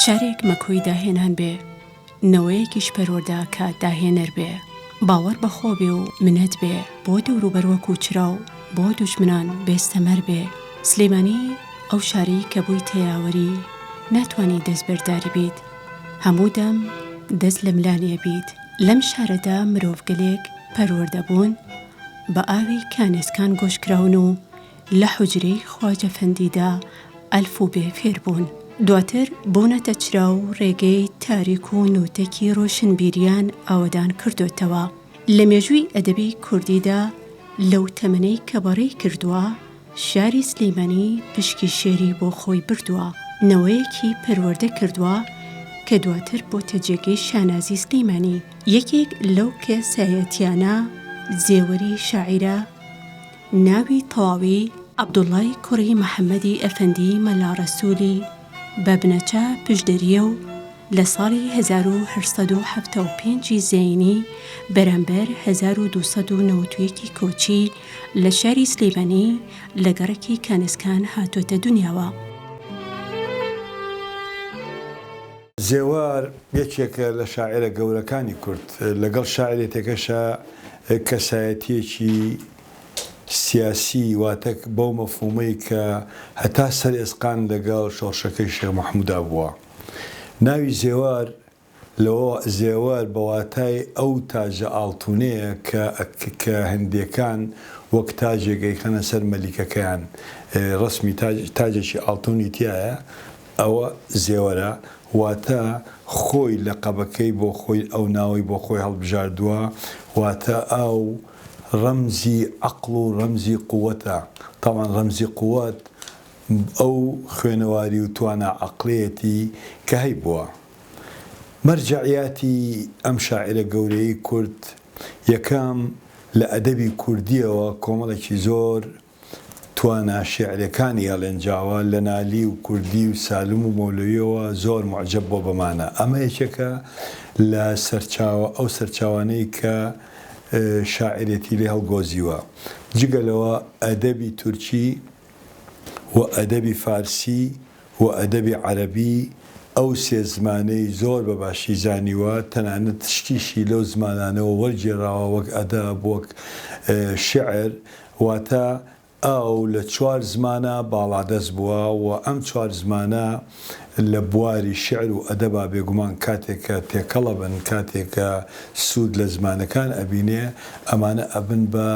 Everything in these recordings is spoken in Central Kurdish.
شارێک مەکۆی داهێنان بێ نەوەیەکیش پەروەردە کە داهێنەر بێ، باوەڕ بە خۆ بێ و منەت بێ بۆ دەوروبەر وەکوو چرا و بۆ دوژمنان بێستەمەر بێ. سلێمانی ئەو شارەی کە بوویتە یاوەری، ناتوانی دەستبەرداری بیت. هەموو دەم دەست لە ملانێ بیت. لەم شارەدا مرۆڤگەلێک پەروەردە بوون، بە ئاوی کانێسکان گۆش کراون و لە حوجرەی خواجە فەندیدا ئەلف و بێ فێر بوون، دواتر بوونەتە چرا و ڕێگەی تاریک و نووتەکی ڕۆشنبیریان ئاوەدان کردۆتەوە. لە مێژووی ئەدەبی کوردیدا لەو تەمەنەی کە بەڕێی کردووە، شاری سلیمانی پشکی شێری بۆ خۆی بردووە، نەوەیەکی پەروەردە کردووە کە دواتر بۆتە جێگەی شانازی سلیمانی. یەکێک لەو کەسایەتیانە زێوەری شاعیرە، ناوی تەواوی، عەبدوڵڵای کوڕی محەممەدی ئەفەندی مەلا ڕەسوولی، بە بنەچە پشدەرییە و لە ساڵی هەزار و هەشت سەد و حەفتا و پێنج ی زەینی بەرامبەر هەزار و دوو سەد و نەوەد و یەک ی کۆچی لە شاری سلێمانی لە گەڕەکی کانسکان هاتۆتە دنیاوە. زێوار یەکێکە لە شاعیرە گەورەکانی کورد، لەگەڵ شاعیرێتەکەشا کەسایەتییەکی سیاسی، واتە بەو مەفهوومەی کە هەتا سەر ئێسقان لەگەڵ شۆڕشەکەی شێخ مەحموودا بووە. ناوی زێوار لەوە، زێوەر بە واتای ئەو تاجە ئاڵتوونەیە کە کە هندییەکان وەک تاجێک ئەیخەنە سەر مەلیکەکەیان، ڕەسمی تاج، تاجێکی ئاڵتوونی تیایە، ئەوە زێوەرە واتە خۆی لەقەبەکەی بۆ خۆی ئەو ناوەی بۆ خۆی هەڵبژاردووە واتە ئاو ڕەمزی عەقڵ و ڕەمزی قووەتە تەبعەن ڕەمزی قووەت ئەو خوێنەواری و توانا عەقڵیەتی کە هەیبووە مەرجەعیاتی ئەم شاعیرە گەورەی کورد یەکەم لە ئەدەبی کوردیەوە کۆمەڵێکی زۆر توانا شیعرەکانی ئەلێن جاوا لە نالی و کوردی و سالم و مەولەویەوە زۆر موعجەب بووە بەمانە ئەمە یەکێکە لە سەرچاوە ئەو سەرچاوانەی کە شاعیرێتی لێ هەڵگۆزیوە جگە لەوە ئەدەبی تورکی و ئەدەبی فارسی و ئەدەبی عەرەبی ئەو سێ زمانەی زۆر بە باشی زانیوە، تەنانەت شتیشی لەو زمانانەوە وەرگێراوە وەک ئەدەب، وەک شیعر، واتە ئەو لە چوار زمانا باڵادەست بووە و ئەم چوار زمانە لە بواری شیعر و ئەدەبا بێگومان کاتێک کە تێکەڵ ئەبن، کاتێک کە سوود لە زمانەکان ئەبینێ، ئەمانە ئەبن بە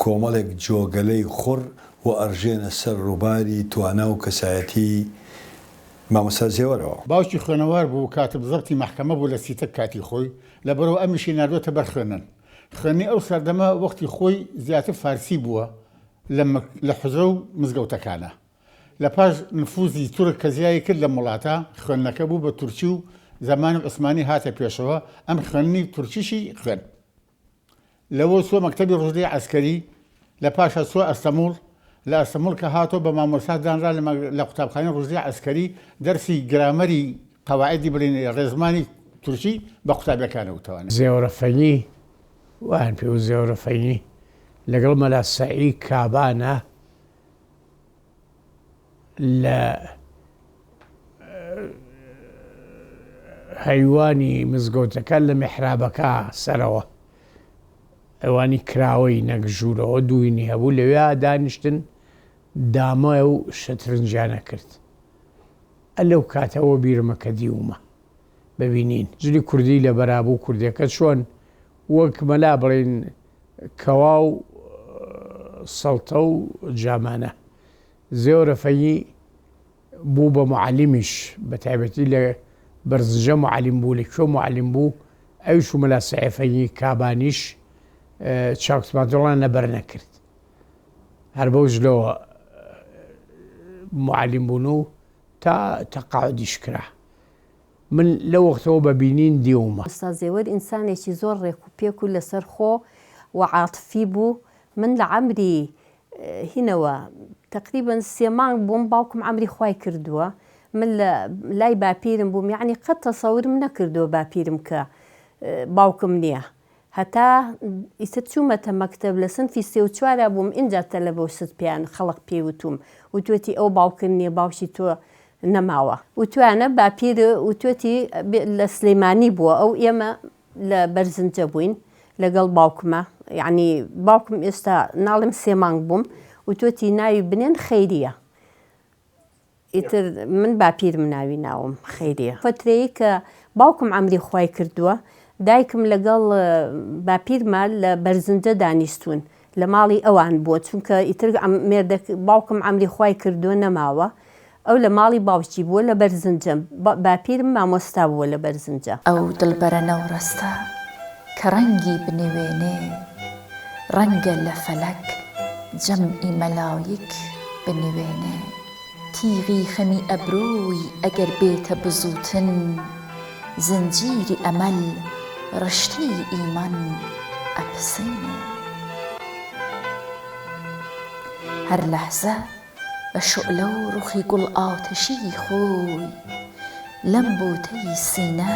کۆمەڵێک جۆگەلەی خوڕ و ئەڕژێنە سەر ڕوباری توانا و کەسایەتی مامۆستا زێوەرەوە. باوکی خوێنەوار بوو کاتب زەبتی مەحکەمە بوو لە سیتەک کاتی خۆی، لەبەرئەوە ئەمیشی ناردۆتە بەر خوێندن. خوێندنی ئەو سەردەمە وەختی خۆی زیاتر فارسی بووە لە مک لە حوجرە و مزگەوتەکانا. لە پاش نفوزی تورک کە زیایی کرد لەم وڵاتە، خوێندنەکە بوو بە تورکی و زمانی عوسمانی هاتە پێشەوە، ئەم خوێندنی تورکیشی خوێند. لەوە چووە مەکتەبی ڕوشدی عەسکەری، لە پاشا چووە ئەستەموڵ، لە ئەستەموڵ کە هاتەوە بە مامۆستا دانرا لە قوتابخانەی ڕوشدی عەسکەری دەرسی گرامەری قەواعیدی بڵێن ڕێزمانی تورکی بە قوتابیەکانەوە توانی. زێوەرە فەینی، وایان پێوت زێوەرە فەینی، لەگەڵ مەلا سەعی کابانە، لە هەیوانی مزگەوتەکە لە میحرابەکە سەرەوە ئەوانی کراوەی نەگژوورەوە دووینی هەبوو لەوێ دانیشتن دامە و شەترنجیانە کرد ئە لەو کاتەوە بیرمە کە دیومە ببینین جلی کوردی لە بەرابوو کوردەکە چۆن وەک مەلا بڵین کوا و سەڵتە و جامانە. زێۆ رەفەیی بوو بە موعەلیمیش، بە تایبەتی لە بەرزنجە موعەلیم بوو، لە کوێ موعەلیم بوو، ئەویش و مەلا سەیفەیی کابانیش چاکوتماندڵان نەبەر نەکرد. هەر بەو جلەوە موعەلیم بوون و تا تەقاعودیش کرا. من لەو وەختەوە بە بینین دیومە. ئوستاز زێوەر ئینسانێکی زۆر ڕێک و پێک و لەسەر خۆ و عاتفی بوو من لە عەمری هینەوە تەقریبەن سێ مانگ بووم باوکم عەمری خوای کردووە من لە لای باپیرم بووم یەعنی قەت تەسەورم نەکردووە باپیرم کە باوکم نیە هەتا ئیتر چوومەتە مەکتەب لە سنفی سێ و چوارا بووم ئینجا تەلەبە و شت پێیان خەڵق پێی وتووم وتوێتی ئەو باوکت نیە باوکی تۆ نەماوە وتویانە باپیر وتوێتی لە سلیمانی بووە ئەو ئێمە لە بەرزنجە بووین لەگەڵ باوکمە یەعنی باوکم ئێستا ناڵێم سێ مانگ بووم وتوێتی ناوی بنێن خەیریە ئیتر من باپیرم ناوی ناوم خەیریە فترەیەک کە باوکم عەمری خوای کردووە دایکم لەگەڵ باپیرما لە بەرزنجە دانیشتوون لە ماڵی ئەوان بووە چونکە ئیتر مێردەک باوکم عەمری خوای کردووە نەماوە ئەو لە ماڵی باوکی بووە لە بەرزنجە باپیرم مامۆستا بووە لە بەرزنجە. ئەو دڵبەرە نەوڕەستە کە ڕەنگی بنوێنێ ڕەنگە لە فەلەک جەمعی مەلایک بنوێنێ تیغی خەمی ئەبرۆی ئەگەر بێتە بزووتن زنجیری ئەمەل ڕشتەی ئیمان ئەپسێنێ هەر لەحزە بە شۆلە و ڕوخی گوڵ ئاتەشیی خۆی لەم بۆتەی سینە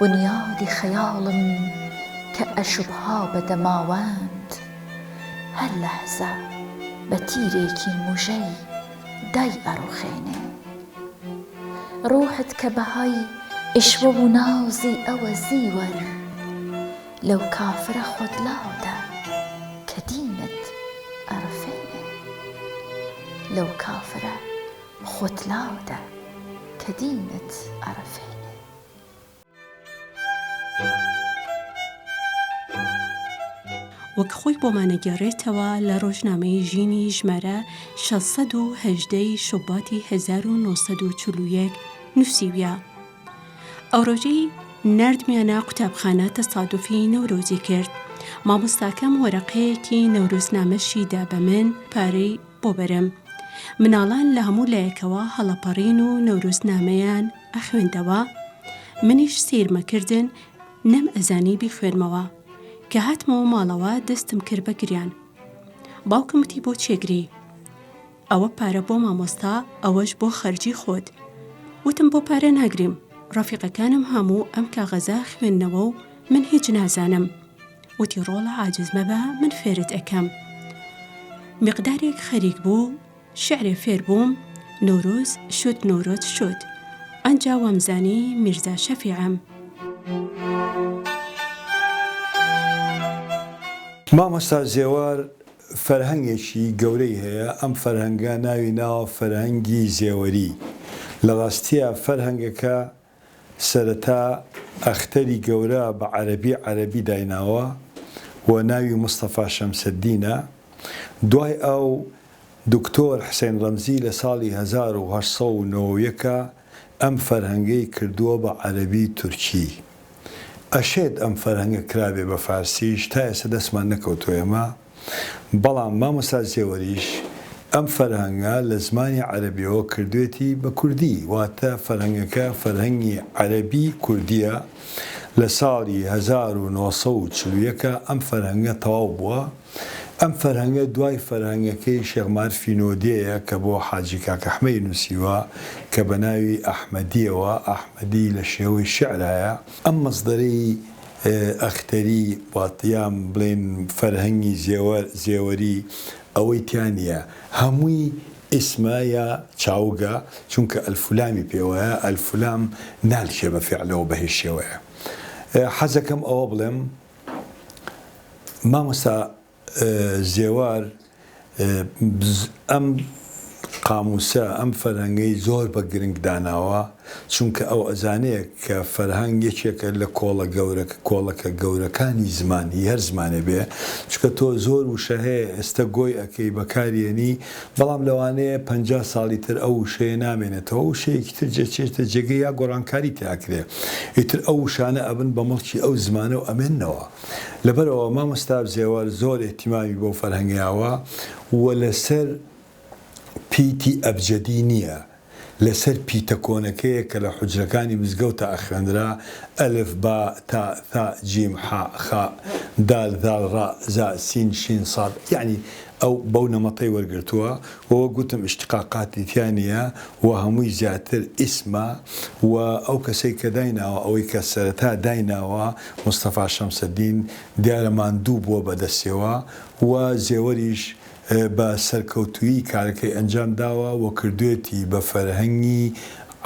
بنیادی خەیاڵم کە ئەشوبها بە دەماوەند هەر لەحزە بە تیرێکی موژەی دای ئەڕوخێنێ ڕوحت کە بەهای ئیشوە و نازی ئەوە زیوەن لەو کافرە خۆت لاودە کە دینت ئەڕفێنێ لەو کافرە خۆت لاوەدە کە دینت ئەڕفێنێ. وەک خۆی بۆمان ئەگێڕێتەوە لە ڕۆژنامەی ژینی ژمارە شەش سەد و هەژدە ی شوباتی هەزار و نۆ سەد و چل و یەک نووسیویە، ئەو ڕۆژەی ناردمیانە قوتابخانە تەسادوفی نەورۆزی کرد، مامۆستاکەم وەرەقەیەکی نەورۆزنامەشی دا بە من، پارەی. بۆ بەرم. مناڵان لە هەموو لایەکەوە هەڵەپەڕین و نەورۆزنامەیان ئەخوێندەوە، منیش سەیرمەکردن نەم ئەزانی بیخوێنمەوە، کە هاتمەوە ماڵەوە دەستم کرد بە گریان. باوکم وتی بۆ چێگری؟ ئەوە پارە بۆ مامۆستا ئەوەش بۆ خەرجی خۆت. وتم بۆ پارە ناگریم، ڕەفیقەکانم هەموو ئەم کاغەزە خوێندنەوە و من هیچ نازانم. وتی ڕۆڵە عاجز مەبە من فێرت ئەکەم مقدارێک خەریک بوو شعرێ فێر بووم نۆرۆز شت نۆرۆت شت ئەجا وامزانی میرزا شەفیعم. مامۆستا زێوار فەرهەنگێکی گەورەی هەیە ئەم فەرهەنگە ناوی ناوە فەرهەنگی زێوەری لە ڕاستیا فەرهەنگەکە سەرەتا ئەختەری گەورە بە عەرەبی عەرەبی دایناوە و ناوی مستەفا شەمسەدینە، دوای ئەو دکتۆر حسین ڕەمزی لە ساڵی هەزار و هەشت سەد و نۆ و یەک ئەم فەرهەنگەی کردووە بە عەرەبی تورکی. ئەشێت ئەم فەرهەنگە کرابێ بە فارسیش، تا ئێستا دەستمان نەکەوتووە ئێمە. بەڵام مامۆستا زێوەریش ئەم فەرهەنگە لە زمانی عەرەبیەوە کردوێتی بە کوردی واتە فەرهەنگەکە فەرهەنگی عەرەبی کوردیە لە ساڵی هەزار و نۆ سەد و چل و یەک ئەم فەرهەنگە تەواو بووە ئەم فەرهەنگە دوای فەرهەنگەکەی شێخ مارفی نۆدێیە کە بۆ حاجی کاکەحمەی نوسیوە کە بەناوی ئەحمەدیەوە ئەحمەدی لە شێوەی شعرایە ئەم مەسدەرەی ئەختەری وات یان بڵێین فەرهەنگی زێوەری ئەوەی تیا نیە هەمووی ئیسمە یا چاوگە چونکە ئەلفولامی پێوەیە ئەلفولام نالکێ بە فیعلەوە بە هیچ شێوەیە حەزەکەم ئەوە بڵێم مامۆستا زێوار ئەم قاموسە ئەم فەرهەنگەی زۆر بە گرنگ داناوە چونکە ئەو ئەزانێ کە فەرهەنگ یەکێکە لە کۆڵە گەورە کۆڵەکە گەورەکانی زمان هی هەر زمانێ بێ چونکە تۆ زۆر وشە هەیە ئێستە گۆی ئەکەی بەکاری ئەنی بەڵام لەوانەیە پەنجا ساڵی تر ئەو وشەیە نامێنێتەوە وشەیەکی تر جەچێتە جێگەی یا گۆڕانکاری تێ ئەکرێ ئیتر ئەو وشانە ئەبن بە مڵکی ئەو زمانە و ئەمێننەوە. لەبەر ئەوە مامۆستا بزێوەر زۆر ئیهتیمامی بەو فەرهەنگەیاوە و لەسەر پیتی ئەبجەدی نییە، لەسەر پیتە کۆنەکەیە کە لە حوجرەکانی مزگەوتا ئەخوێنرا، ئەلف، با، تا، ثا، جیم، حا، خا، دال، ذال، ڕا، زا، سین، شین، صاد، یەعنی ئەو بەو نەمەتەی وەرگرتووە. وە وەک گوتم اشتقاقاتی تیا نیە وە هەمووی زیاتر ئیسمە وە ئەو کەسەی کە دایناوە ئەوەی کە سەرەتا دایناوە مستەفا شەمسەدین دیارە ماندوو بووە بە دەستیەوە وە زێوەریش بە سەرکەوتوویی کارەکەی ئەنجام داوە وە کردوێتی بە فەرهەنگی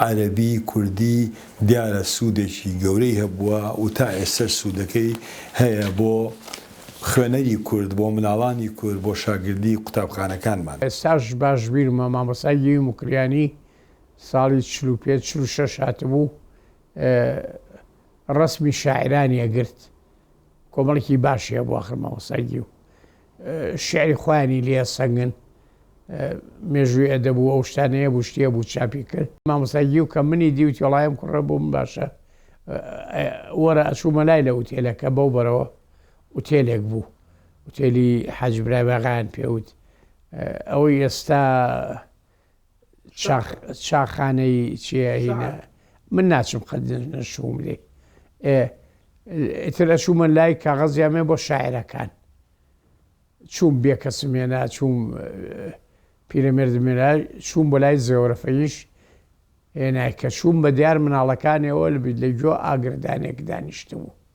عەرەبی کوردی دیارە سوودێکی گەورەی هەبووە و تا ئێستەش سوودەکەی هەیە بۆ خوێنەری کورد، بۆ مناڵانی کورد، بۆ شاگردی قوتابخانەکانمان. ئێستاش باش بیرمە مامۆستا گیوی موکریانی ساڵی چل و پێنج چل و شەش هاتبوو ڕەسمی شاعیرانی ئەگرت کۆمەڵێکی باشی هەبوو ئاخر مامۆستا گیو شعری خۆیانی لێ سەنگن مێژووی ئەدەبوو ئەو شتانەیە بوو شتیە بوو چاپی کرد مامۆستا گیو کە منی دیوتی وڵایم کوڕە بووم باشە وەرە ئەچوومە لای لە ئوتێلەکە بەو بەرەوە ئوتێلێک بوو ئوتێلی حەج برای باغیان پێوت ئەوەی ئێستا شاخانەی چیە هینە من ناچم قەت نەشوم لێ ئتر ئەشومە لای کاغەزیامێ بۆ شاعرەکان چوم بێ کەسمێنا چوم پیرەمێردمێنا چوم بۆ لای زێوەرەفەیش هێنای کە چوم بە دیار مناڵەکانەوە لە بیت لە گۆ ئاگردانێک دانیشتبوو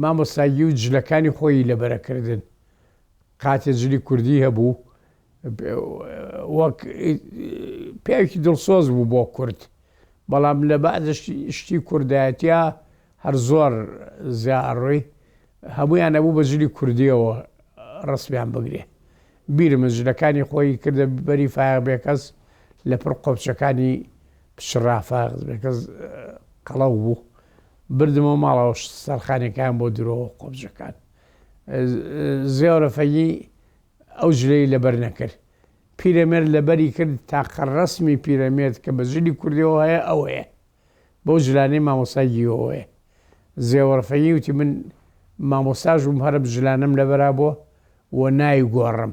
مامۆستا گیو جلەکانی خۆیی لەبەرە کردن قاتێ جلی کوردی هەبوو وەک پیاوکی دڵسۆز بوو بۆ کورد بەڵام لە بەعدش شتی کوردایەتیا هەر زۆر زیاڕۆی هەمویان نەبوو بە جلی کوردیەوە ڕسمیان بگرێ بیر من جلەکانی خۆی کردە بەری فایق بێکەس لە پڕ قۆپچەکانی پچڕافاق بێکەس قەڵەو بوو بردمەوە ماڵەوە سەرخانەکەیان بۆ درۆوە قۆبجەکان زێۆرە فەگی ئەو جلەی لەبەر نەکرد پیرەمێر لەبەری کرد تاقە ڕسمی پیرەمێرد کە بە جلی کوردەوە هەیە ئەوەیە بەو جلانەی مامۆسای گیۆوەیە زێوەڕفەنی وتی من مامۆساژ بووم هەرم جلانم لەبەرا بووە و ناوی گۆڕم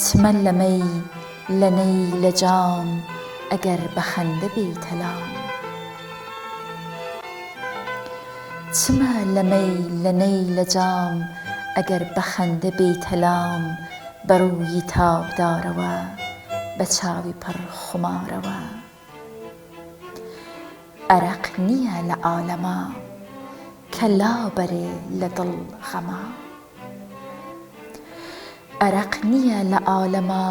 چمە لە مەی لە نەی لە جام ئەگەر بە خەندە بێیتە لام. چمە لە مەی لە نەی لە جام ئەگەر بە خەندە بێیتە لام بە ڕووی تابدارەوە بە چاوی پڕ خمارەوە. ئەرەق نییە لە عالەما کە لا بەرێ لە دڵ غەما ئەرەق نییە لە عالەما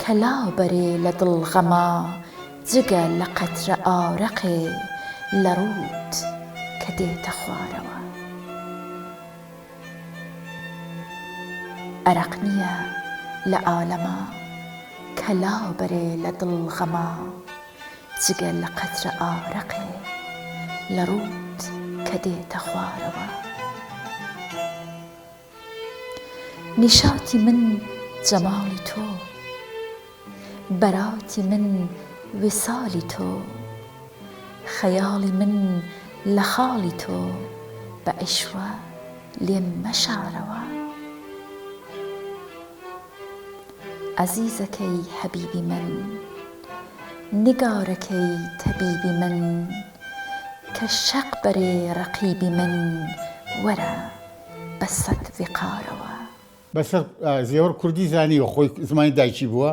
کە لا بەرێ لە دڵ غەما جگە لە قەترە ئارەقێ لە ڕووت کە دێتە خوارەوە ئەرەق نییە لە عالەما کە لا بەرێ لە دڵ غەما جگە لە قەترە ئارەقێ لە ڕووت کە دێتە خوارەوە. نیشاتی من جەماڵی تۆ. بەراتی من ویسالی تۆ. خەیاڵی من لە خاڵی تۆ. بە عیشڕە لێم مەشارەوە. ئەزیزەکەی حەبیبی من. نیگارەکەی تەبیبی من. کە شەق بەرێ ڕەقیبی من. وەرە بە سەد ویقارەوە. بەسەر زێوەر کوردی زانیوە خۆی زمانی دایکی بووە،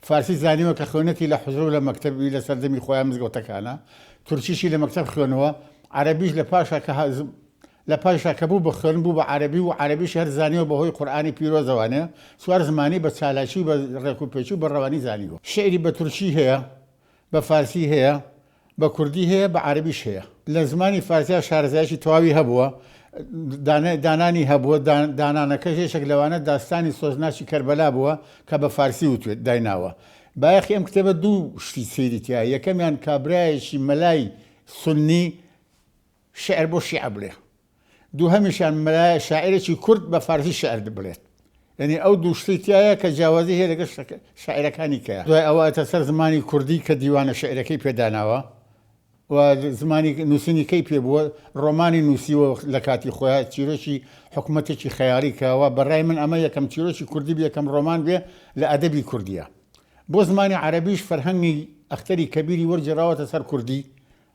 فارسی زانیوە کە خوێنەتی لە حوجرە و لە مەکتەب بی لە سەردەمی خۆیان مزگەوتەکانا، تورکیشی لە مەکتەب خوێنوە، عەرەبیش لە پاشا کە لە پاشا کە بوو بە خوێن بوو بە عەرەبی و عەرەبیشی هەر زانیوە بە هۆی قورئانی پیرۆزەوانێ، چوار زمانی بە چالاکی و بە ڕێکوپێکی و بە ڕەوانی زانیوە. شیعری بە تورکی هەیە. بە فارسی هەیە بە کوردی هەیە بە عەرەبیش هەیە لە زمانی فارسیا شارەزایەکی تەواوی هەبووە دانانی هەبووە دانانەکەش یەشێک لەوانە داستانی سۆزناچی کەربەلا بووە کە بە فارسی وتێت دایناوە بایەخی ئەم کتێبە دوو شتی سەیریتیا یەکەمیان کابراایەکی مەلای سنی شعر بۆ شیعە بڵێ دووهەمیشیان مەلایە شاعیرێکی کورد بە فارسی شیعر بڵێت. یەنی ئەو دوو شتی تیایە کە جیاوازی هەیە لەگەڵ شاعیرەکانی کە دوای ئەوە ئەچێتە سەر زمانی کوردی کە دیوانە شیعرەکەی پێ داناوە و زمانی نووسینی کەی پێ بووە، ڕۆمانی نووسیوە لە کاتی خۆیان، چیرۆکی حکومەتێکی خەیاڵی کراوە، بە ڕای من ئەمە یەکەم چیرۆکی کوردی بێ، یەکەم ڕۆمان بێ لە ئەدەبی کوردیا. بۆ زمانی عەرەبیش فەرهەنگی ئەختەری کەبیری وەرگێڕاوەتە سەر کوردی،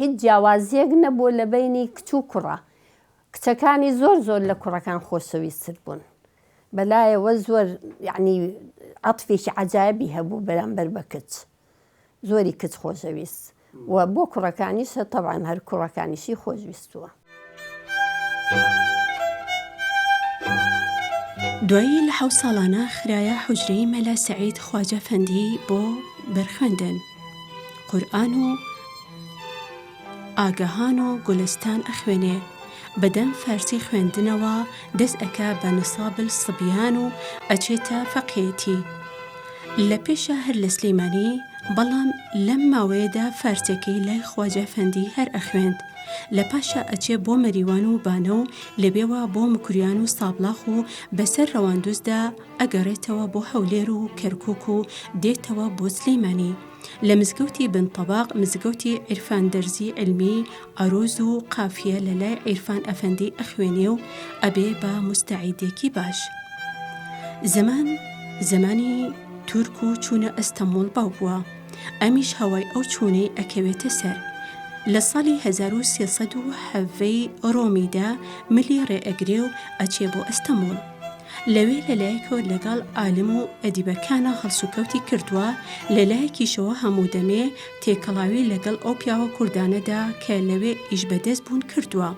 هیچ جیاوازیەک نەبوو لە بەینی کچ و کوڕا کچەکانی زۆر زۆر لە کوڕەکان خۆشەویستتر بوون بەلایەوە زۆر یەعنی عەتفێکی عەجایبی هەبوو بەرامبەر بە کچ زۆری کچ خۆشەویست و بۆ کوڕەکانیشە تەبعەن هەر کوڕەکانیشی خۆشویستووە. دوایی لە حەوت ساڵانە خرایە حوجرەی مەلا سعید خواجە فەندی بۆ بەرخوێندن قورئان و ئاگەهان و گولستان ئەخوێنێ بەدەم فارسی خوێندنەوە دەست ئەکا بە نصابل صبیان و ئەچێتە فەقێیەتی لە پێشا هەر لە سلێمانی بەڵام لەم ماوەیەدا فارسەکەی لای خواجە فەندی هەر ئەخوێند لە پاشا ئەچێ بۆ مەریوان و بانە و لەوێوە بۆ مکریان و سابڵاخ و بەسەر ڕەواندوزدا ئەگەڕێتەوە بۆ هەولێر و کەرکک و دێتەوە بۆ سلەیمانی لە مزگەوتی بن طبق مزگەوتی عیرفان دەرزی علمی عروز و قافیە لە لای عیرفان ئەفەندی ئەخوێنێ و ئەبێ بە مستعیدێکی باش زمان زمانی تورک و چوونە ئەستەمۆڵ باو بووە. ئەمیش هەوای ئەو چوونەی ئەکەوێتە سەر. لە ساڵی هەزار و سێ سەد و حەڤەی ڕۆمیدا ملی ڕێ ئەگرێ و ئەچێ بۆ ئەستەموڵ. لەوێ لە لایەکەوە لەگەڵ عالم و ئەدیبەکانا هەڵسوکەوتی کردووە، لە لایەکیشەوە هەموو دەمێ تێکەڵاوی لەگەڵ ئەو پیاوە کوردانەدا کە لەوێ ئیش بەدەست بوون کردووە.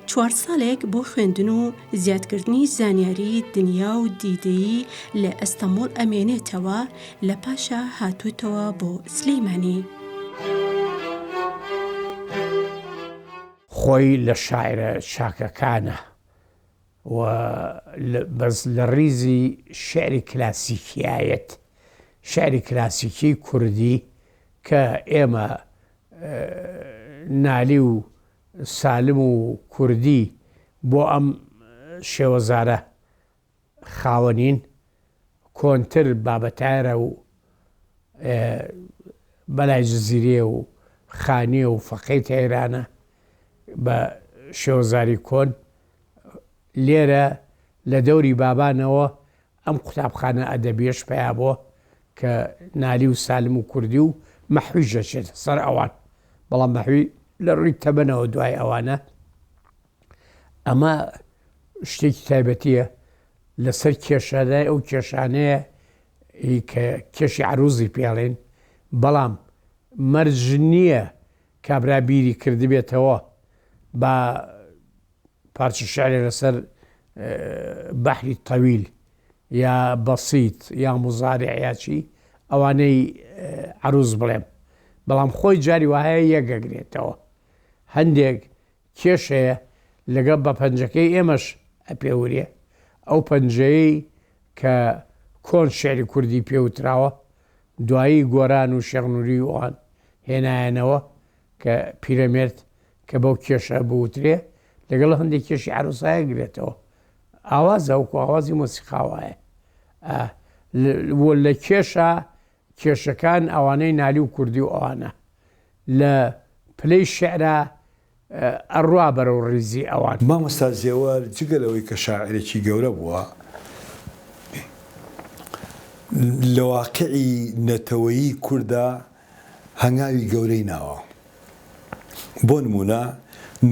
چوار ساڵێک بۆ خوێندن و زیادکردنی زانیاری دنیا و دیدەیی لە ئەستەمۆڵ ئەمێنێتەوە لە پاشا هاتوتەوە بۆ سلیمانی. خۆی لە شاعرە چاکەکانە و بەس لە ڕیزی شعری کلاسیکیایەت شعری کلاسیکی کوردی کە ئێمە نالی و سالم و کوردی بۆ ئەم شێوەزارە خاوەنین کۆنتر بابەتایەرە و بەلای جزیرێ و خانیە و فەقەی تەیرانە بە شێوەزاری کۆن لێرە لە دەوری بابانەوە ئەم قوتابخانە ئەدەبیەش پەیا بۆ کە نالی و سالم و کوردی و مەحویش دەچێتە سەر ئەوان، بەڵام مەحوی لە ڕووی تەمەنەوە دوای ئەوانە. ئەمە شتێکی تایبەتیە لە سەر کێشانای ئەو کێشانەیە ی کە کێشی عروزی پێڵێن، بەڵام مەرج نییە کابرا بیری کردبێتەوە با پارچە شعرێ لەسەر بەحری تەویل یا بەسیت یا مزارع یا چی ئەوانەی عروز بڵێم بەڵام خۆی جاری وهەیە یەکگەگرێتەوە هەندێک کێشەیە لەگەڵ بە پەنجەکەی ئێمەش ئەپێورێ ئەو پەنجەیەی کە کۆن شعری کوردی پێوتراوە دوایی گۆران و شەغنووری ئەوان هێنایەنەوە کە پیرەمێرد کە بەو کێشە بوترێ لەگەڵ هەندێک کێشی عروسایە گرێتەوە ئاوازە وەکو ئاوازی مۆسیقاوایە لە کێشە کێشەکان ئەوانەی نالی و کوردی و ئەوانە لە پلەی شعرا ئەڕوا بەرە و ڕیزی ئەوان مامۆستا زێوار جگە لەوەی کە شاعرێکی گەورە بووە لە واقعی نەتەوەیی کوردا هەنگاوی گەورەی ناوە. بۆ نموونە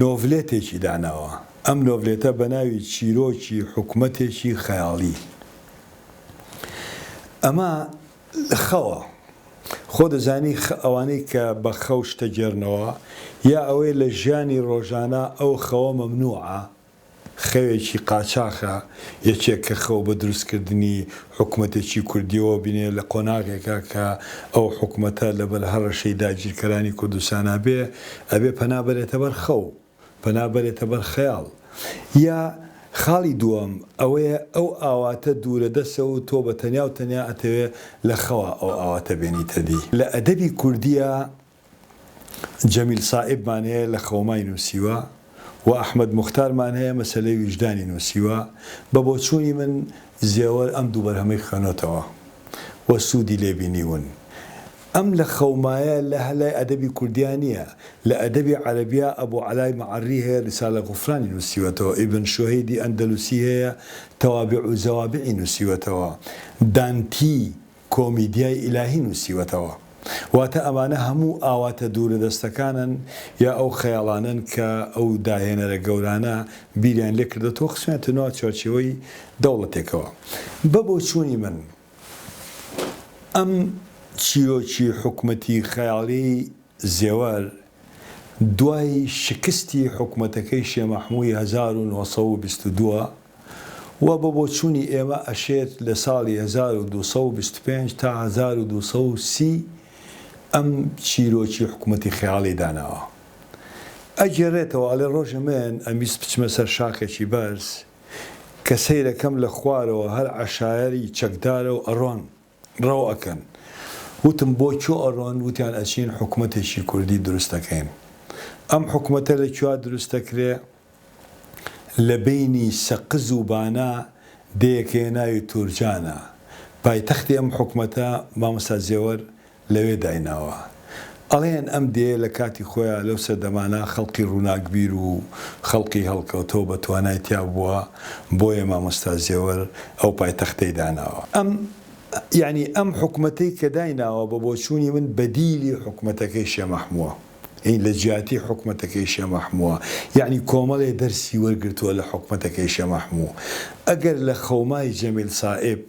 نۆڤلێتێکی داناوە، ئەم نۆڤلێتە بە ناوی چیرۆکی حکومەتێکی خەیاڵی. ئەمە خەوە. خۆ دەزانی ئەوانەی کە بە خەو شتە گێرنەوە، یا ئەوەی لە ژیانی ڕۆژانە ئەو خەوە مەمنوعە، خەوێکی قاچاخە یەکێک کە خەو بە دروست کردنی حکومەتێکی کوردیەوە بینێ لە قۆناغێکا کە ئەو حکومەتە لە بەر هەڕەشەی داگیرکەرانی کوردستانا بێ ئەبێ پەنا بەرێتە بەر خەو پەنا بەرێتە بەر خەیاڵ یا خاڵی دووەم ئەوەیە ئەو ئاواتە دوورە دەسە و تۆ بە تەنیا و تەنیا ئەتەوێ لە خەوا ئەو ئاواتە بێنیتە دی لە ئەدەبی کوردیا جەمیل سائیبمان هەیە لە خەومای نووسیوە و ئەحمەد موختارمان هەیە مەسەلەی ویژدانی نووسیوە، بە بۆچوونی من زێوەر ئەم دوو بەرهەمەی خوێنۆتەوە و سوودی لێ بینیوون. ئەم لە خەومایە لە هە لای ئەدەبی کوردیا نییە، لە ئەدەبی عەرەبیا ئەبو عەلای مەعەرری هەیە ریسالە غوفرانی نووسیوەتەوە، ئیبن شوهەیدی ئەندەلوسی هەیە تەوابیع و زەوابیعی نووسیوەتەوە، دانتی کۆمیدیای ئیلاهی نووسیوەتەوە، واتە ئەمانە هەموو ئاواتە دوورەدەستەکانن یا ئەو خەیاڵانەن کە ئەو داهێنەرە گەورانە بیریان لێ کردۆتەوە و خستویانەتە ناو چوارچێوەی دەوڵەتێکەوە. بە بۆچوونی من ئەم چیرۆکی حکومەتی خەیاڵیی زێوەر دوای شکستی حکومەتەکەی شێ مەحمووی هەزار و نۆ سەد و بیست و دوو، وە بە بۆچوونی ئێمە ئەشێت لە ساڵی هەزار و دوو سەد و بیست و پێنج تا هەزار و دوو سەد و سی ئەم چیرۆکی حکومەتی خەیاڵی داناوە ئەگێڕێتەوە ئەڵێ ڕۆژێ من ئەمویست بچمە سەر شاخێکی بەرز کە سەیرەکەم لە خوارەوە هەر عەشایەری چەکدارە و ئەڕۆن ڕەو ئەکەن وتم بۆ کوێ ئەڕۆن وتیان ئەچین حکومەتێکی کوردی دروست ئەکەین ئەم حکومەتە لە کوێ دروست ئەکرێ لە بەینی سەقز و بانە دێیەک هەیە ناوی تورجانە پایتەختی ئەم حکومەتە مامۆستا زێوەر لەوێ دایناوە ئەڵێن ئەم دێیە لە کاتی خۆیا لەو سەردەمانە خەڵقی ڕووناکبیر و خەڵقی هەڵکەوتەو بە توانای تیا بووە بۆیە مامۆستا زێوەر ئەو پایتەختەی داناوە. ئەم یانی ئەم حکومەتەی کە دایناوە بە بۆچوونی من بەدیلی حکومەتەکەی شێ مەحمووە یانی لە جیاتی حکومەتەکەی شێ مەحمووە یانی کۆمەڵێ دەرسی وەرگرتووە لە حکومەتەکەی شێ مەحموو ئەگەر لە خەومای جەمیل سائیب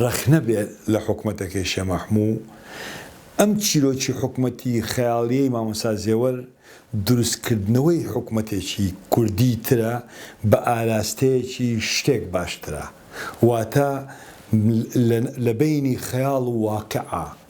ڕەخنە بێ لە حکومەتەکەی شێ مەحموو، ئەم چیرۆکی حکومەتی خەیاڵیەی مامۆستا زێوەر دروست کردنەوەی حکومەتێکی کوردی ترە بە ئاراستەیەکی شتێک باشترە واتە لە لە بەینی خەیاڵ و واقعە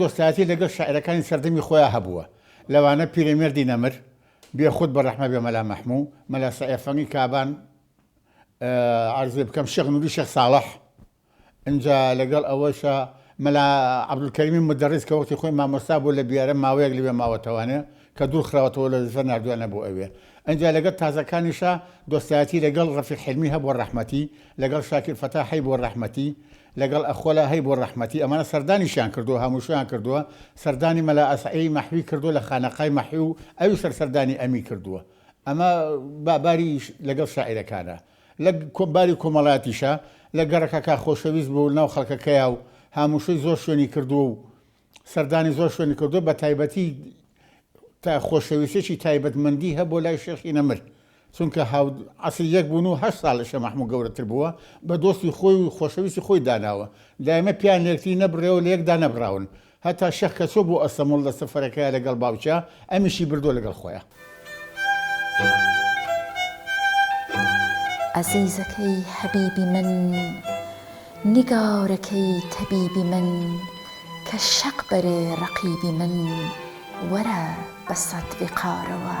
دۆستایەتی لەگەڵ شاعیرەکانی سەردەمی خۆیان هەبووە، لەوانە پیرەمێردی نەمر، بێخود بە ڕەحمە بێ مەلا مەحموو، مەلا سەعێ فەنگی کابان، عەرزێ بکەم شێخ نووری شێخ ساڵح، ئینجا لەگەڵ ئەوەشا مەلا عەبدولکەریمی مودەڕیس کە وەختی خۆی مامۆستا بوو لە بیارە ماوەیەک لەوێ ماوەتەوانێ کە دوور خراوەتەوە لە دزە ناردویانە بۆ ئەوێ ئینجا لەگەڵ تازەکانیشا دۆستایەتی لەگەڵ ڕەفیق حلمی هەبوو ڕەحمەتی لەگەڵ شاکیر فەتا هەیبوو ڕەحمەتی لەگەڵ ئەخۆلا هەیبوو ڕەحمەتی ئەمانە سەردانیشیان کردووە هەمووشیان کردووە سەردانی مەلا ئەسعی مەحوی کردووە لە خانەقای مەحوی و ئەوی سەر سەردانی ئەمی کردووە ئەمە باباریش لەگەڵ شاعیرەکانە لە باری کۆمەڵاتیشا لە گەڕەکەکە خۆشەویست بوو ناو خەڵکەکەیا و هاموشەی زۆر شوێنی کردووە و سەردانی زۆر شوێنی کردووە بە تایبەتی تا خۆشەویستێکی تایبەتمەندی هەبوو لای شێخی نەمر چونکە هاو عەسری یەک بوون و هەشت ساڵ لە شێخ مەحموود گەورەتر بووە بە دۆستی خۆی و خۆشەویستی خۆی داناوە دایمە پیان لە یەکتری نەبڕێەوە لە یەکدا نەبڕاون هەتا شێخ کە چووە بۆ ئەستەموڵ لە سەفەرەکەیا لەگەڵ باوکیا ئەمیشی بردووە لەگەڵ خۆیا. ئەزیزەکەی حەبیبی من، نیگارەکەی تەبیبی من، کە شەق بەرێ ڕەقیبی من، وەرە بە سەد ویقارەوە.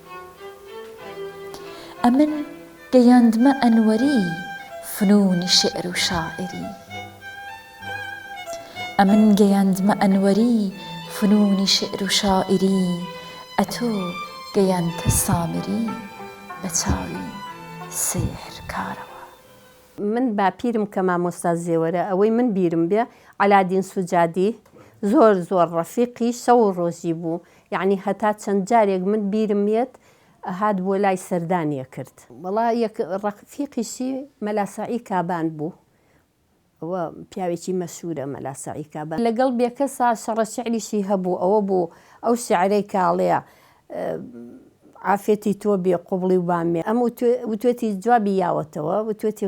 ئەمن گەیاندمە ئەنوەری فنوونی شیعر و شاعیری ئەمن گەیاندمە ئەنوەری فنوونی شیعر و شاعیری ئەتۆ گەیاندتە سامری بە چاوی سیحر کارەوە. من باپیرم کە مامۆستا زێوەرە ئەوەی من بیرم بێ عەلادین سوجادی زۆر زۆر ڕەفیقی شەو و ڕۆژی بوو یەعنی هەتا چەند جارێک من بیرم یەت ئەهات بۆ لای سەردان یەکرد. وەڵا یەک ڕەفیقیشی مەلا سەعی کابان بوو ئەوە پیاوێکی مەشهورە مەلا سەعی کابان لەگەڵ بێکەسا شەڕە شعریشی هەبوو ئەوە بوو ئەو شعرەی کە ئەڵێ عافێتی تۆ بێ قوبڵی و بامێ ئەم وتوێتی جوابی یاوەتەوە وتوێتی.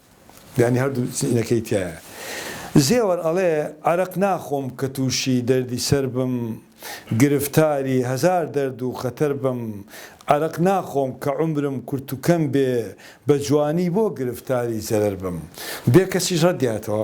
یانی هەردوو چینەکەی تیایە. زێوەر ئەڵێ، عەرەق ناخۆم کە تووشی دەردی سەر بم، گرفتاری هەزار دەرد و خەتەر بم، عەرەق ناخۆم کە عومرم کورت و کەم بێ، بە جوانی بۆ گرفتاری زەرەر بم. بێکەسیش ڕەتدیاتەوە.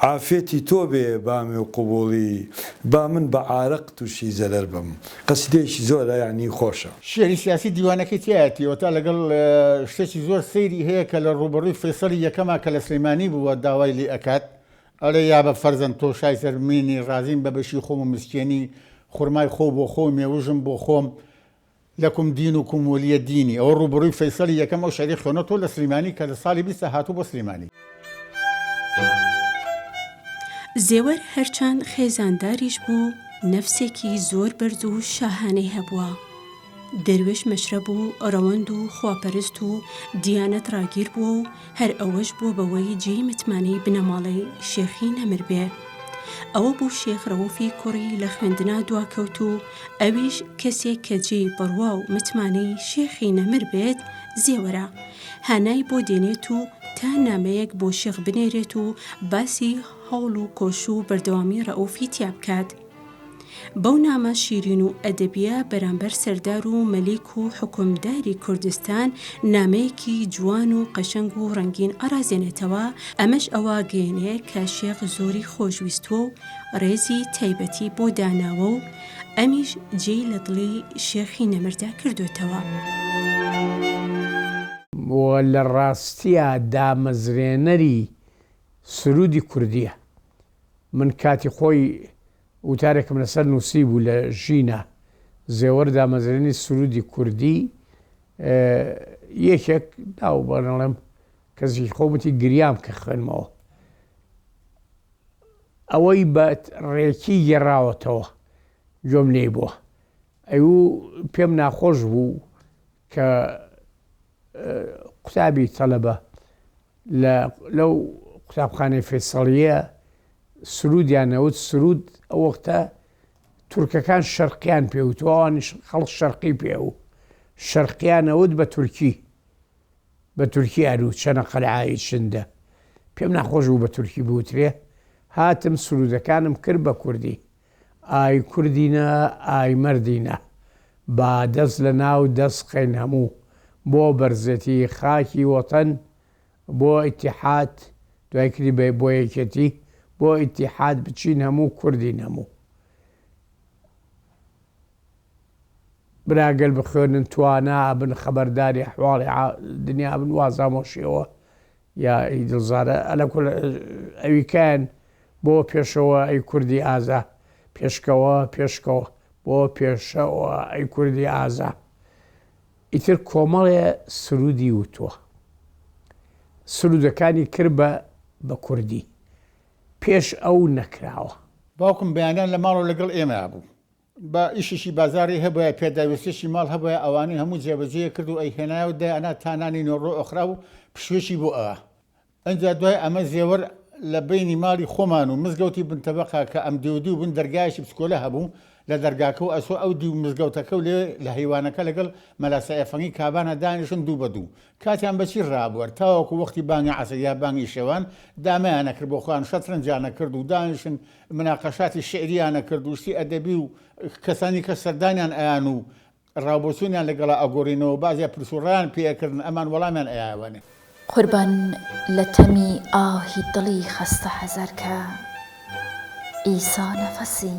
عافێتی تۆ بێ بامێ و قبوڵی با من بە عارەق توشی زەرەر بم. قەسیدەیەکی زۆرە یانی خۆشە. شیعری سیاسی دیوانەکەی تیایەتی ئەوەتا لەگەڵ شتێکی زۆر سەیری هەیە کە لە ڕووبەڕووی فەیسەڵی یەکەما کە لە سلێمانی بووە داوای لێ ئەکات ئەڵێ یابە فەرزەند تۆ شای سەر مینی ڕازیم بە بەشی خۆم و مسکێنی خورمای خۆو بۆ خۆو مێوژم بۆ خۆم لەکوم دین و کوم ولیە دینی ئەوە ڕوبەڕوی فەیسەڵی یەکەم ئەو شعری خوێنەوە تۆ لە سلیمانی کە لە ساڵی بیست دا هاتوو بۆ سلیمانی. زێوەر هەرچەند خێزانداریش بوو نەفسێکی زۆر بەرز و شاهانەی هەبووە. دەروێش مەشرەب و ڕەوەند و خواپەرست و دیانەت ڕاگیر بووە و، هەر ئەوەش بووە بەوەی جێی متمانەی بنەماڵەی شێخی نەمر بێ. ئەوە بوو شێخ رەوفی کوڕی لە خوێندنا دواکەوت و ئەویش کەسێک کە جێی بڕوا و متمانەی شێخی نەمر بێت زێوەرە، هانای بۆ دێنێت و تا نامەیەک بۆ شێخ بنێرێت و باسی هەوڵ و کۆش و بەردەوامی رەئوفی تیا بکات. بەو نامە شیرین و ئەدەبیە بەرامبەر سەردار و مەلیک و حکومداری کوردستان نامەیەکی جوان و قەشەنگ و ڕەنگین ئەڕازێنێتەوە ئەمەش ئەوە گەێنێ کە شێخ زۆری خۆشویستوە و ڕێزی تایبەتی بۆ داناوە و ئەمیش جێ لە دڵی شێخی نەمردا کردوێتەوە. لە ڕاستیا دامەزرێنەری سروودی کوردیە. من کاتی خۆی وتارێکم لەسەر نووسیبوو لە ژینا زێوەر دامەزرێنی سرودی کوردی یەکێک داو بەنەڵێم کەسی خۆمەتی گریام کە خوێنمەوە ئەوەی بە ڕێکی گێڕاوەتەوە گوێم لێی بووە ئەی و پێم ناخۆش بوو کە قوتابی تەلەبە لە لەو قوتابخانەی فەیسەڵیە سرودیان نەوت سرود ئەو وەختە تورکەکان شەرقیان پێوت و ئەوانیش خەڵک شەرقی پێ و شەرقیان نەوت بە تورکی بە تورکی ئەرو چەنە قەلعایی شندە پێم ناخۆش بوو بە تورکی بوترێ هاتم سرودەکانم کرد بە کوردی ئای کوردینە ئای مەردینە با دەست لە ناو دەست خەین هەموو بۆ بەرزێتی خاکی وەتەن بۆ ئیتیحاد دوای کری بە بۆ یەکێتی بۆ ئیتیحاد بچین هەموو کوردین هەموو برا گەل بخوێنن توانا ئەبن خەبەرداری ئەحواڵی دنیا ئەبن وازامۆشیەوە یا ای دلزارە ئەلە کول ئەوی کان بۆ پێشەوە ئەی کوردی ئازا پێشکەوە پێشکەوە بۆ پێشەوە ئەی کوردی ئازا ئیتر کۆمەڵێ سرودی وتووە سرودەکانی کرد بە بە کوردی پێش ئەو نەکراوە. باوکم بەیانیان لە ماڵەوە لەگەڵ ئێمەیا بوو. با ئیشیشی بازاری هەبوایە پێداویستیەکی ماڵ هەبوایە ئەوانەی هەموو جێبەجێی کرد و ئەیهێنایە و دەیانا تا نانی نۆڕۆ ئۆخراو و پشوێکی بۆ ئەوا ئنجا دوای ئەمە زێوەر لە بەینی ماڵی خۆمان و مزگەوتی بن تەبەقا کە ئەم دیو دیو بن دەرگایەکی بچکۆلە هەبوو لە دەرگاکە و ئەچوو ئەو دیو مزگەوتەکە و لێ لە هەیوانەکە لەگەڵ مەلا سەعێ فەنگی کابانە دانیشن دوو بە دوو کاتیان بە چی ڕابوەر تاوەکو وەختی بانگی عەسر یا بانگی شەوان دامەیانە کرد بۆ خۆیان شەترەنجیانە کرد و دانیشن مناقەشاتی شیعرییان ئەکرد و شتی ئەدەبی و کەسانی کە سەردانیان ئەیان و ڕاوبۆچوونیان لەگەڵا ئەگۆڕینەوە بازیا پرس و ڕایان پێ ئەکردن ئەمان وەڵامیان ئەیاوەێ. قوربان لە تەمی ئاهی دڵی خەستە حەزەرکە ئیسا نەفەسی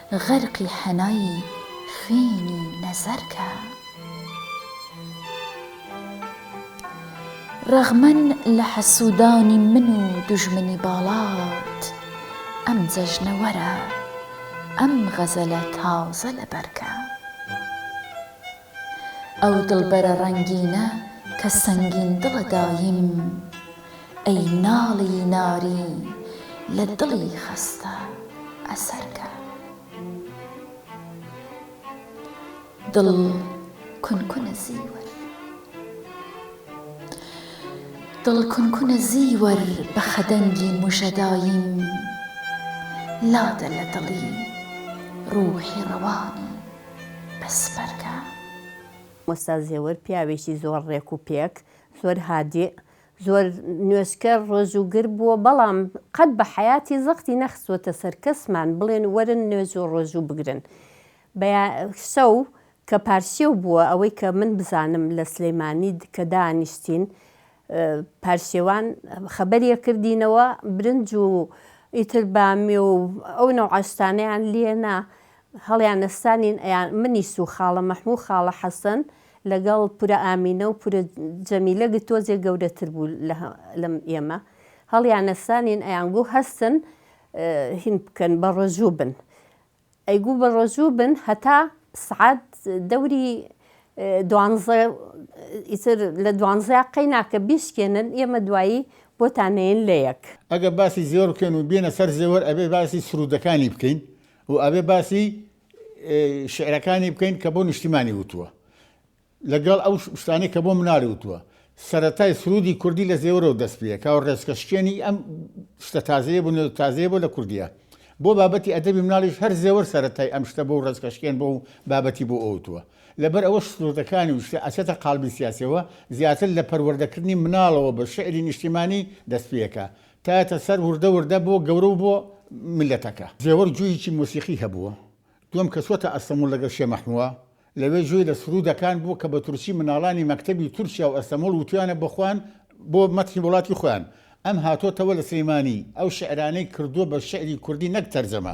غەرقی حەنای خوێنی نەزەر کە. ڕەغمەن لە حەسوودانی من و دوژمنی باڵات، ئەم جەژنە وەرە، ئەم غەزەلە تازە لەبەر کە. ئەو دڵبەرە ڕەنگینە کە سەنگین دڵە داییم ئەی ناڵی نارین لە دڵی خەستە ئەسەرکە. دڵ کون کونە زیوەر دڵ کون کونە زیوەر بە خەدەنگی موژە داییم لادە لە دڵی ڕووحی ڕەوانی بەسپەردە. مۆستا زێوەر پیاوێکی زۆر ڕێک و پێک، زۆر هادیئ، زۆر نوێژکەر، ڕۆژووگر بووە، بەڵام قەت بە حەیاتی زەختی نەخستووەتە سەر کەسمان بڵێن وەرن نوێژ و ڕۆژوو بگرن. بە یا شەو کە پارشێو بووە، ئەوەی کە من بزانم لە سلیمانی کە دانیشتین پارشێوان خەبەری ئەکردینەوە برنج و ئیتر بامیە و ئەو نەوعە شتانەیان لێ نا، هەڵیان نەستانین ئەیان منیس و خاڵە مەحموو و خاڵە حەسەن لەگەڵ پورە ئامینە و پورە جەمیلە گ تۆزێ گەورەتر بوو لە ئێمە هەڵیان نەستانین ئەیان گوو هەستن هین بکەن بە ڕۆژوو بن ئەی گوو بە ڕۆژوو بن هەتا سعات دەوری دوانزە ئیتر لە دوانزەیا قەی ناکە بیشکێنن ئێمە دوایی بۆتان نێین لە یەک. ئەگە باسی زێوەر بکەین و بێنە سەر زێوەر ئەبێ باسی سروودەکانی بکەین و ئەبێ باسی شعرەکانی بکەین کە بۆ نیشتیمانی وتووە لەگەڵ ئەو شتانی کە بۆ مناڵی وتووە سەتای سرودی کوردی لە زێورەوە دەست پێکا و ڕێزکە شکێنی ئەم شتە تازەیە بوو تازەیە بۆ لە کوردیە بۆ بابەتی ئەدەبی مناڵیش هەر زێوەر سەتای ئەم شتە بۆ ڕێزکە شکێن بۆ و بابەتی بۆ ئەوتووە لەبەر ئەوە سرودەکانی وشتە ئەچێتە قالبی سیاسەوە زیاتر لە پەروەردەکردنی مناڵەوە بە شعری نیشتیمانی دەست پێکە تایەتە سەر وردە وردە بۆ گەورە و بۆ میللەتەکە. زێوەر گوییکی مۆسیقی هەبووە، دووەم کە چووەتە ئەستەمووڵ لەگەڵ شێ مەحمووە، لەوێ گوێی لە سروودەکان بوو کە بە تورکی مناڵانی مەکتەبی تورکیا و ئەستەمووڵ وتویانە بۆ خۆیان بۆ مەتحی وڵاتی خۆیان. ئەم هاتۆتەوە لە سلێمانی، ئەو شیعرانەی کردووە بە شیعری کوردی نەک تەرجەمە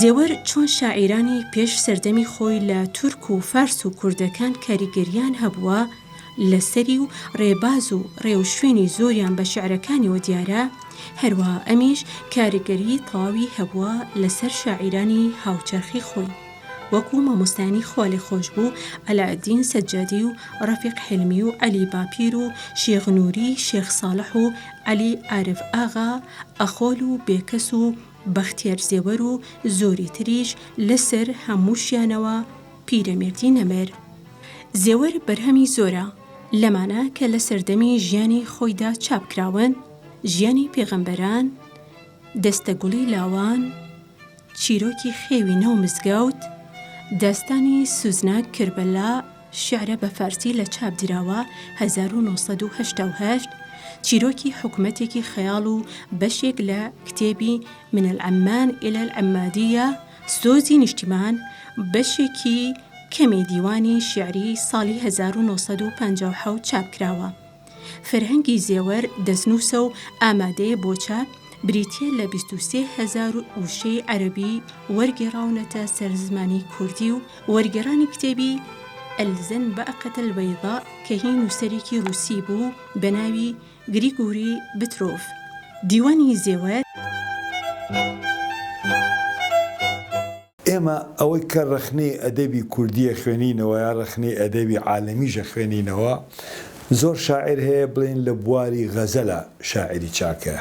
زێوەر چۆن شاعیرانی پێش سەردەمی خۆی لە تورک و فارس و کوردەکان کاریگەرییان هەبووە لەسەری و ڕێباز و ڕێوشوێنی زۆریان بە شعرەکانیەوە دیارە هەروە ئەمیش کاریگەری تەواوی هەبووە لەسەر شاعیرانی هاوچەرخی خۆی وەکو مامۆستایانی خوالێخۆشبوو عەلائەدین سەجادی و ڕەفیق حیلمی و عەلی باپیر و شێخ نوری شێخ ساڵح و عەلی ئارف ئاغا ئەخۆل و بێکەس و بەختیار زێوەر و زۆری تریش لەسەر هەمووشیانەوە پیرەمێردی نەمر زێوەر بەرهەمی زۆرە لەمانە کە لە سەردەمی ژیانی خۆیدا چاپ کراون ژیانی پێغەمبەران، دەستە گوڵی لاوان، چیرۆکی خێوی ناو مزگەوت، داستانی سوزناک کربەلا، شیعرە بە فارسی لە چاپ دراوە، هەزار و نۆ سەد و هەشتا و هەشت، چیرۆکی حکومەتێکی خەیاڵ و بەشێک لە کتێبی من العمان الی العمادیە، سۆزی نیشتیمان، بەشێکی کەمی دیوانی شیعری ساڵی هەزار و نۆ سەد و پەنجا و حەوت چاپ کراوە. فەرهەنگی زێوەر دەستنووسە و ئامادەیە بۆ چاپ، بریتییە لە بیست و سێ هەزار وشەی عەرەبی وەرگێڕاونەتە سەر زمانی کوردی و وەرگێڕانی کتێبی، الزن بعقة البیضاء، کە هی نووسەرێکی ڕووسی بوو بە ناوی، گریگوری بترۆف، دیوانی زێوەر. ئێمە ئەوەی کە ڕەخنەی ئەدەبی کوردیە خوێنینەوە یا ڕەخنەی ئەدەبی عالەمیش ئەخوێنینەوە زۆر شاعیر هەیە بڵێین لە بواری غەزەلا شاعیری چاکە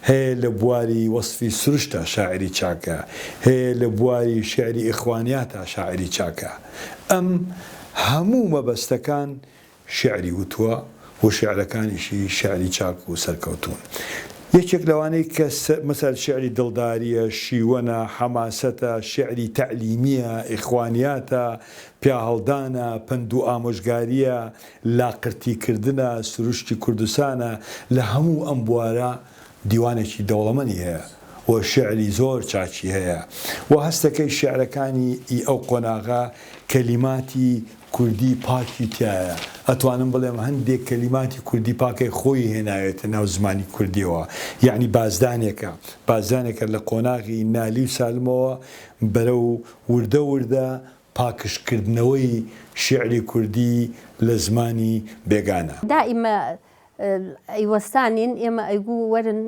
هەیە لە بواری وەسفی سروشتا شاعیری چاکە هەیە لە بواری شیعری ئیخوانیاتا شاعیری چاکە ئەم هەموو مەبەستەکان شیعری وتووە و شیعرەکانیشی شیعری چاک و سەرکەوتوون. یەکێک لەوانەی کە مثال شیعری دڵدارییە، شیوەنە، حەماسەتە، شیعری تەعلیمییە، ئیخوانیاتە، پیاهەڵدانە، پەند و ئامۆژگارییە، لاقرتیکردنە، سروشتی کوردستانە، لە هەموو ئەم بوارە دیوانێکی دەوڵەمەنی هەیە و شیعری زۆر چاکی هەیە و هەستەکەی شیعرەکانی ئی ئەو قۆناغە کەلیماتی کوردی پاکی تیایە، ئەتوانم بڵێم هەندێک کەلیماتی کوردی پاکەی خۆی هێناوێتە ناو زمانی کوردیەوە، یەعنی بازدانێکە، بازدانێکە لە قۆناغی نالی و سالمەوە بەرەو وردە وردە پاکژ کردنەوەی شیعری کوردی لە زمانی بێگانە. دائیمە ئەی وەستانین ئێمە ئەیگو وەرن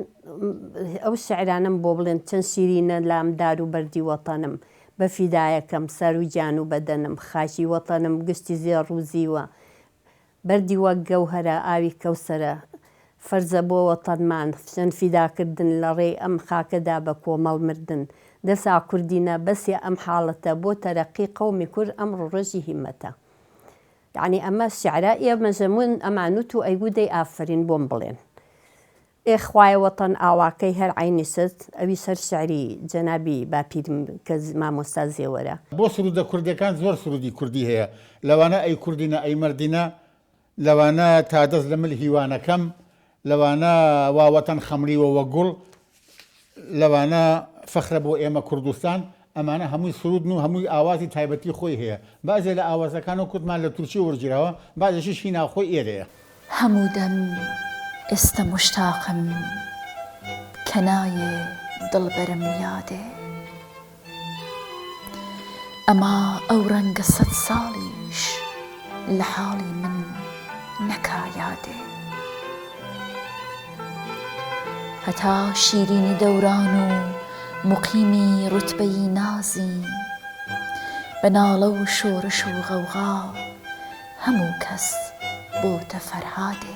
ئەو شعرانەم بۆ بڵێن چەند شیرینە لام دار و بەردی وەتەنم بە فیدایەکەم سەر و گیان و بەدەنم خاکی وەتەنم گشتی زێڕ و زیوە بەردی وەک گەوهەرە ئاوی کەوسەرە فەرزە بۆ وەتەنمان چەند فیدا کردن لە ڕێی ئەم خاکەدا بە کۆمەڵ مردن دەسا کوردینە بەسە ئەم حاڵەتە بۆ تەرەقی قەومی کورد ئەمڕۆ ڕۆژی هیمەتە یەعنی ئەمە سیعرا ئێ مەزەموون ئەمان نوت و ئەیگوو دەی ئافەرین بۆم بڵێن ئێ خوایە وەتەن ئاواکەی هەر عەینی ست ئەوی سەر سیعری جەنابی باپیرم کە مامۆستا زێوەرە. بۆ سرودە کوردیەکان زۆر سرودی کوردی هەیە لەوانە ئەی کوردینە ئەی مەردینە لەوانە تا دەست لە مل هیوانەکەم لەوانە وا وەتەن خەمڵیوە وە گوڵ لەوانە فەخرە بۆ ئێمە کوردستان ئەمانە هەمووی سرودن و هەمووی ئاوازی تایبەتی خۆی هەیە بەعزێ لە ئاوازەکان و کوردمان لە تورکی وەرگیراوە بەعزێکیش هی ناوخۆی ئێرەیە. هەموو دەم ئێستە موشتاقم کە نایێ دڵبەرم یادێ ئەما ئەو ڕەنگە سەد ساڵیش لە حاڵی من نەکا یادێ. هەتا شیرینی دەوران و موقیمی ڕوتبەیی نازین، بە ناڵە و شۆرش و غەوغا هەموو کەس بۆتە فەرهادێ.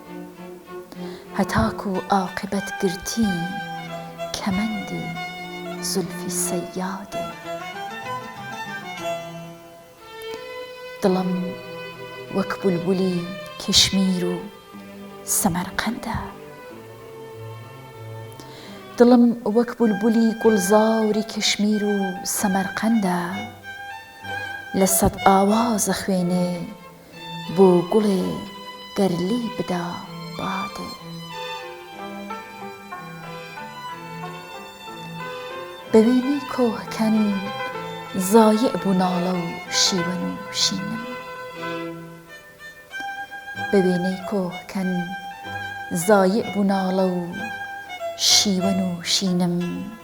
هەتاکو ئاقبەت گرتین کەمەندی زولفی سەیادێ. دڵم وەک بولبولی کشمیر و سەمەرقەندە. دڵم وەک بولبولی گوڵزاری کشمیر و سەمەرقەندە. لە سەد ئاواز ئەخوێنێ. بۆ گوڵێ گەر لی بدا بادێ. بە وێنەی کۆهکەن زایع بوو ناڵە و شیوە نووشینم.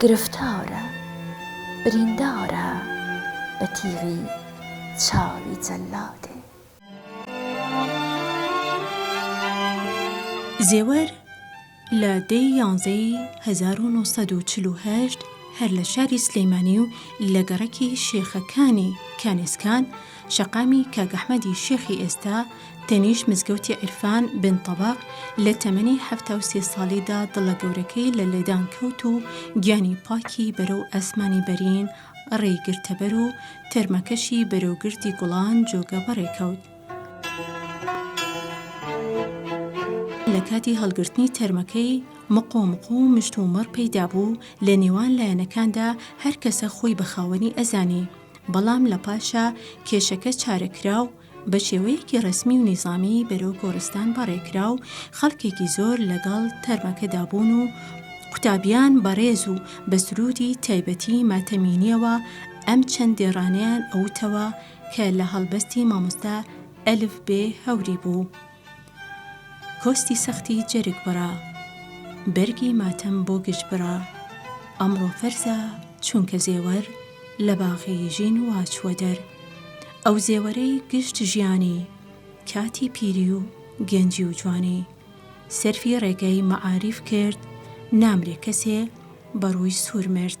گرفتارە بریندارە بە تیغی چاوی جەلادێ. زێوەر لە دەی یانزەی هەزار و نۆ سەد و چل و هەشت هەر لە شاری سلیمانی و لە گەڕەکی شێخەکانی کانێسکان، شەقامی کاک ئەحمەدی شێخی ئێستا تەنیشت مزگەوتی عیرفان بن تەبەق لە تەمەنی حەفتا و سێ ساڵیدا دڵە گەورەکەی لە لێدان کەوت و گیانی پاکی بەرەو ئاسمانی بەرین ڕێی گرتەبەر و تەرمەکەشی بەرەو گردی گوڵان جۆگە بەڕێ کەوت. لە کاتی هەڵگرتنی تەرمەکەی مقۆ مقۆ مشت و مەڕ پەیدا بوو لە نێوان لایەنەکاندا هەر کەسە خۆی بە خاوەنی ئەزانی. بەڵام لە پاشا کێشەکە چارەکرا و بە شێوەیەکی ڕەسمی و نیزامی بەرەو گۆڕستان بەڕێکرا و خەڵکێکی زۆر لەگەڵ تەرمەکەدا بوون و قوتابیان بەڕێز و بە سرودی تایبەتی ماتەمینیەوە ئەم چەند دێڕانەیان ئەوتەوە کە لە هەڵبەستی مامۆستا ئەلف بێ هەوری بوو. کۆستی سەختی جەرگ بڕا بەرگی ماتەم بۆ گژ بڕا ئەمڕۆ فەرزا چونکە زێوەر لە باغی ژین وا چووە دەر ئەو زێوەرەی گشت ژیانی کاتی پیری و گەنجی و جوانی سەرفی ڕێگەی مەعاریف کرد نامرێ کەسێ بە ڕووی سوور مرد